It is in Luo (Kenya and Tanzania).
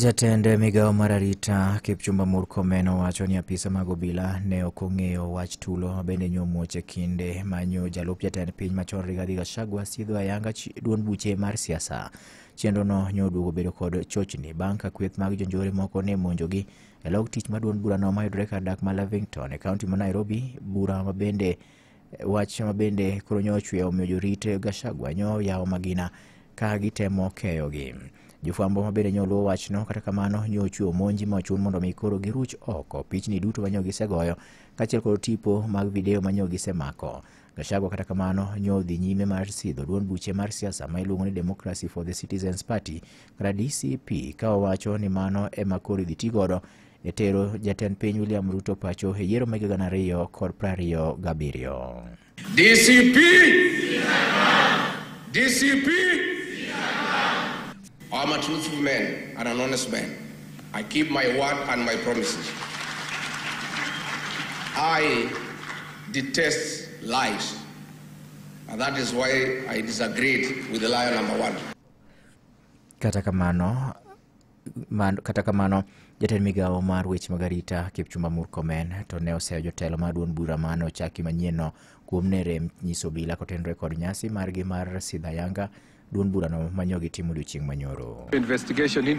Jatend migawo mar arita Kipchumba Murkomen owacho ni apisa mag obila ne ok ong'eyo wach tulo bende nyomuoch e kinde manyo jalup jatend piny machon Rigathi Gachagua sidho ayanga chi- duond buche mar siasa. Chenrono nyo oduogo bedo kod chochni bang' ka kweth mag jonjore moko ne monjogi e log tich ma duond burano mayudore kar dak ma Lavington e kaunti ma Nairobi, bura ma bende Wach ma bende koro nyo ochweyo omiyo jorit Gachagua nyo yawo magina ka gitemo keyogi. Jofwambo ma bende nyo luwo wachno kata kamano nyo ochweyo monji ma ochun mondo mi koro giruch oko pichni duto ma nyo gisegoyo kaachiel kod tipo mag video ma nyo gisemako. Gachagua kata kamano nyo odhi nyime mar sidho duond buche mar siasa ma iluongo ni Democracy for the Citizens Party kata DCP ka owacho ni mano ema koro idhi ti godo e tero jatend piny William Ruto pacho e yiero mag gana ariyo kod prariyo gabiriyo. DCP! DCP! I'm a truthful man and an honest man. I keep my word and my promises. I detest lies. And that is why I disagreed with the liar number one. Kata kamano, Man, kata kamano jatend migawo mar weche mag arita kipchumba murkomen to ne oseyo jotelo mar duond bura mane ochaki manyienno kuom ne rem nyiso obila kotenore kod nyasi margi mar sidha yanga duond burano manyogi timo odiochieng' manyoro investigation into